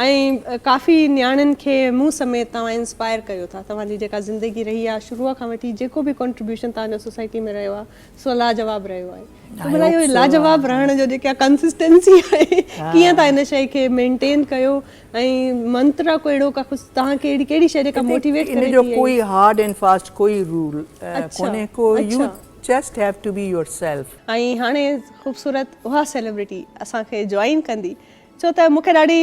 ۽ ڪافي نياڻين کي مون سميت توهان انسپائر ڪيو ٿا توهان جي جيڪا زندگي رهي آهي شروع کان وٺي جيڪو به ڪنٽريبيوشن توهان جو سوسائٽي ۾ رهيو آهي سو لاجواب رهيو آهي ته ڀلا اهو لاجواب رهڻ جو جيڪا ڪنسسٽنسي آهي ڪيئن تان ان شئي کي مينٽين ڪيو ۽ منترا ڪو اهڙو ڪا ڪجهه توهان کي اهڙي ڪهڙي شئي جيڪا موٽيويٽ ڪري ٿي ان جو ڪوئي هارڊ اينڊ فاسٽ ڪوئي رول ڪونهي ڪو you just have to be yourself. ۽ هاڻي خوبصورت اها سيلبرٽي اسان کي جوائن ڪندي ڇو ته مون کي ڏاڍي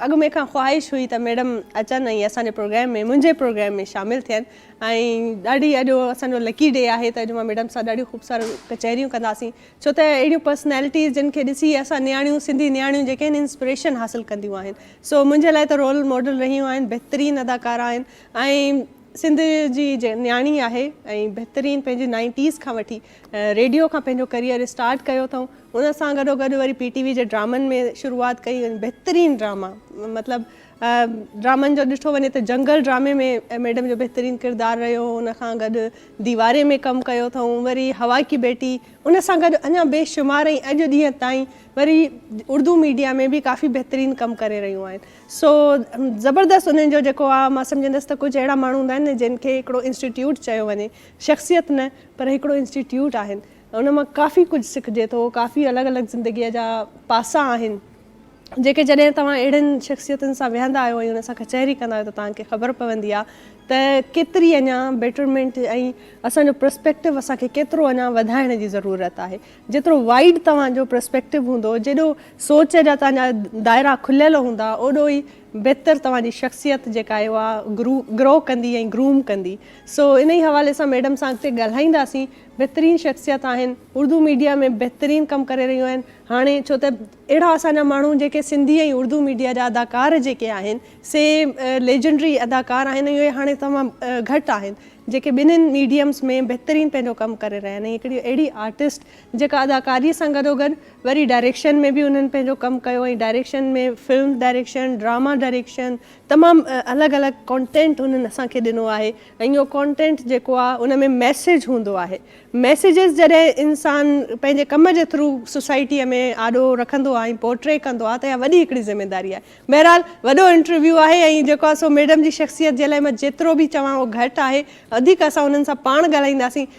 اڳ ۾ کان خواهش هئي ته ميڊم اچن ۽ اسان جي پروگرام ۾ منهنجي پروگرام ۾ شامل ٿين ۽ ڏاڍي اڄ اسان جو لڪي ڊي آهي ته اڄ مان ميڊم سان ڏاڍيون خوب ساريون ڪچهريون ڪنداسين ڇو ته اهڙيون پرسنالٽيز جن کي ڏسي اسان نياڻيون سنڌي نياڻيون جيڪي آهن انسپريشن حاصل ڪنديون آهن سو منهنجي لاء ته رول ماڊل رهيون آهن بهترين اداڪارا آهن ۽ سنڌ جي نياڻي آهي ۽ بهترين پنهنجي نائنٽيز کان وٺي ريڊيو کان پنهنجو ڪريئر اسٽارٽ ڪيو اٿئون ان سان گڏو گڏ وري پي ٽي وي جي ڊرامن ۾ شروعات ڪئي ۽ بهترين ڊراما مطلب ڊرامن جو ڏٺو وڃي ته جنگل ڊرامي ۾ ميڊم جو بهترين ڪردار رهيو هو ان کان گڏ ديواري ۾ ڪم ڪيو اٿئون وري هوا ڪي بيٽي ان سان گڏ اڃا بي شمار ۽ اڄ ڏينهن تائين وري اردو ميڊيا ۾ به ڪافي بهترين ڪم ڪري رهيون آهن سو زبردست انهن جو جيڪو آ مان سمجهندس ته ڪجهه اهڙا ماڻهو هوندا آهن نه جن کي هڪڙو انسٽيٽيوٽ چيو وڃي شخصيت نه پر هڪڙو انسٽيٽيوٽ آهن ان مان ڪافي ڪجهه سکجي ٿو ڪافي الڳ الڳ زندگي جا پاسا آهن جيڪي جڏهن توهان اهڙين شخصيتن سان ويهندا آهيو ۽ ان سان ڪچهري ڪندا آهيو ته توهان کي خبر پوندي آهي ته ڪيتري اڃا بيٽرمينٽ ۽ اسان جو پرسپيڪٽو اسان کي ڪيترو اڃا وڌائڻ جي ضرورت آهي جيترو وائيڊ توهان جو پرسپيڪٽو هوندو جيڏو سوچ جا توهان جا دائرا کليل هوندا اوڏو ئي بهتر توهان جي شخصيت جيڪا آهي اها گرو ڪندي ۽ گروم ڪندي سو انهي حوالي سان ميڊم سان اڳتي ڳالهائينداسين. بهترين شخصيت آهن. اردو ميڊيا ۾ بهترين ڪم ڪري رهيون آهن. هاڻي ڇو ته اهڙا اسان جا ماڻهو جيڪي سنڌي ۽ اردو ميڊيا جا اداڪار جيڪي آهن سي ليجنڊري اداڪار آهن ۽ اهي هاڻي تمام گهٽ آهن جيڪي ٻنهين ميڊيمز ۾ بهترين پنهنجو ڪم ڪري رهيا آهن ۽ هڪڙي اهڙي آرٽسٽ جيڪا اداڪاري سان گڏوگڏ وري ڊائريڪشن ۾ به انهن پنهنجو ڪم ڪيو ۽ direction ۾ film direction, drama direction, تمام الڳ الڳ ڪانٽينٽ انهن اسان کي ڏنو آهي ۽ اهو ڪانٽينٽ جيڪو آهي ان ۾ ميسيج هوندو آهي ميسيجز جڏهن انسان پنهنجي ڪم جي ٿرو سوسائٽيء ۾ آڏو رکندو آهي ۽ پورٽري ڪندو آهي ته اها وڏي هڪڙي ذميداري آهي بهرحال وڏو انٽرويو آهي ۽ جيڪو آهي سو ميڊم جي شخصيت جي لاء مان جيترو به چوان اهو گهٽ آهي وڌيڪ اسان انهن سان پاڻ ڳالهائينداسين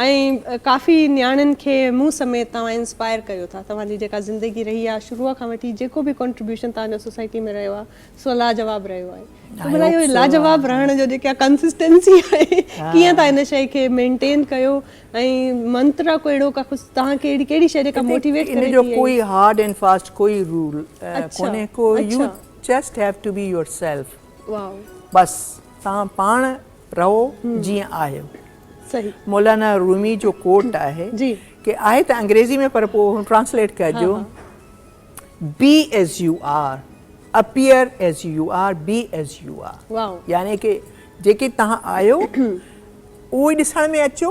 ۽ ڪافي نياڻين کي مون سميت توهان انسپائر ڪيو ٿا توهان جي جيڪا زندگي رهي آهي شروع کان وٺي جيڪو به ڪنٽريبيوشن توهان جو سوسائٽي ۾ رهيو آهي سو لاجواب رهيو آهي ته ڀلا اهو لاجواب رهڻ جو جيڪا ڪنسسٽنسي آهي ڪيئن تان ان شئي کي مينٽين ڪيو ۽ منترا ڪو اهڙو ڪا ڪجهه توهان کي اهڙي ڪهڙي شئي جيڪا موٽيويٽ ڪري ٿي ان جو ڪوئي هارڊ اينڊ فاسٽ ڪوئي رول ڪونهي ڪو you just have to be yourself واء بس توهان پاڻ رهو جيئن آهيو. مولانا رومي جو ڪوٽ آهي ڪي آهي ته انگريزي ۾ پر پوء ٽرانسليٽ ڪجو be as you are appear as you are be as you are يعني ڪي جيڪي تهان آهيو اهو ئي ڏسڻ ۾ اچو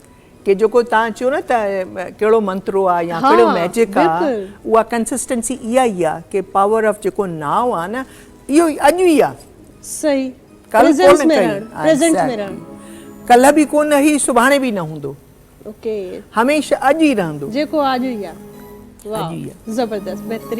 ڪي جيڪو تان چيو نه ته ڪهڙو منترو آ يا ڪهڙو ميجڪ آ اها ڪنسسٽنسي اها ئي آ ڪي پاور آف جيڪو ناء آ نه اهو ئي اڄ ئي آ صحيح پريزنس ۾ رهڻ پريزنٽ ۾ رهڻ ڪلهه به ڪونه هي سڀاڻي به نه هوندو اوڪي هميشه اڄ ئي رهندو جيڪو آ اڄ ئي آ واء زبردست بهترين